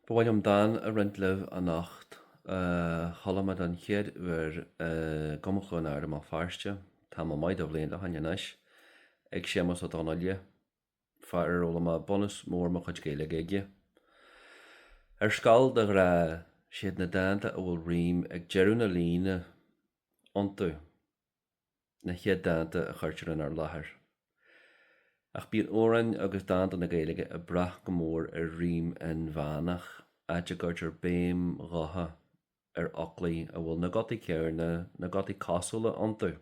Ba mhaith liom dán a roinnt libh anocht a chuala mé don chéad uair i gCumann Chluain Ard i mBéal Feirste tamall maith de bhlianta ó shin anois, ag Séamus Ó Donnaile, fear ar fhoghlaim mé bunús mór mo chuid Gaeilge aige. Ar scoil de ghnáth, siad na dánta a bhfuil rím ag deireadh na líne iontu. na chéad dánta a chuirtear inár láthair. Ach bíonn amhráin agus dánta na Gaeilge ag brath go mór ar rím inmheánach, áit a gcuirtear béim ghutha ar fhoclaí a bhfuil na gutaí céarna, na gutaí cosúla iontu,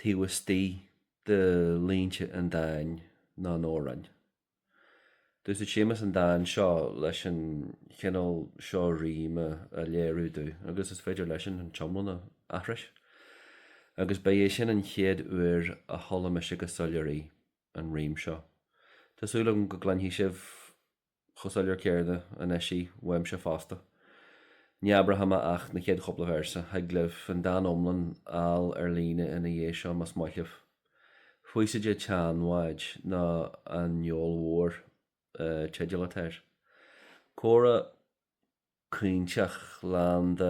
taobh istigh de línte an dáin nó an amhráin. D'úsaid Séamus an dán seo leis an chineál seo ríme a léiriú domh agus is féidir leis-sean an t-iomlán a aithris. Agus ba é sin an chéad uair a chuala mise go soiléir í, an rím seo. Tá súil agam go gcluinfidh sibh chomh soiléir céarna anois í uaimse fosta. Ní abróidh mé ach na chéad chúpla véarsa. Thig libh an dán iomlán a fháil ar líne ina dhiaidh seo más maith libh. Faoiside an tSeanbháid nó An Gheol Mhór, teideal atá air. Comhrá caointeach lán de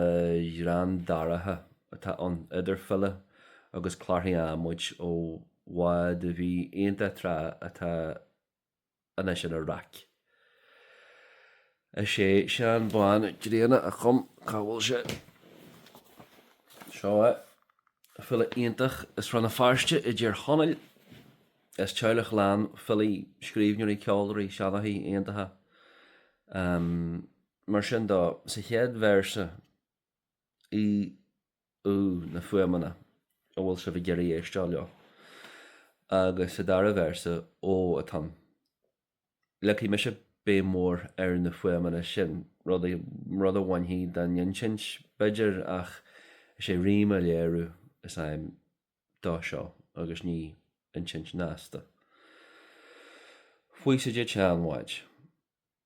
ghreann dorcha atá ann, idir file agus clárthaí adhmaid ó bhád a bhí iontach tráth atá anois ina raic. Is é Seán Bán Grianna a chum 'Cá bhfuil sé? Seo é, file iontach as Rann na Feirste i dTír Chonaill, as teaghlach lán filí, scríbhneoirí, ceoltóirí, seanchaithe, iontacha. Mar sin dó, sa chéad véarsa, í. ú na fuaimeanna a bhfuil sibh ag iarraidh éisteacht leo. Agus sa dara véarsa, Ó, atá ann. leagfaidh mise béim mhór ar na fuaimeanna sin, rud a, rud a bhainfidh den insint, b'fhéidir, ach is é rím a léiriú is aidhm dó seo agus ní insint shnasta. Faoiside an tSeanbháid.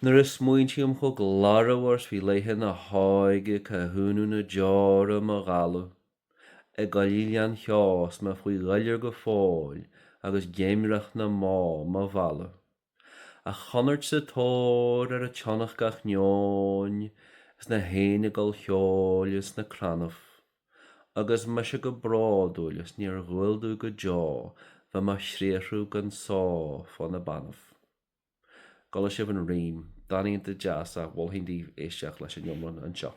Nuair a smaointím chomh glórmhar 's bhí laethe na hóige Cá hionadh na deora mo dhalladh i gcoillidh lán cheo 's mé faoi dhuilliúr go fóill agus géimreach na mbó mo mhealladh An chonairt sa tóir ar an tsionnach gach neoin is na héin ag gabháil cheoil ins na crannaibh Agus mise go bródúil is níor dhual domh go deo bheith mo chriathrú gan só fá na beannaibh. An gcuala sibh an rím dán iontach deas a mholfainn daoibh éisteacht leis an iomlán anseo.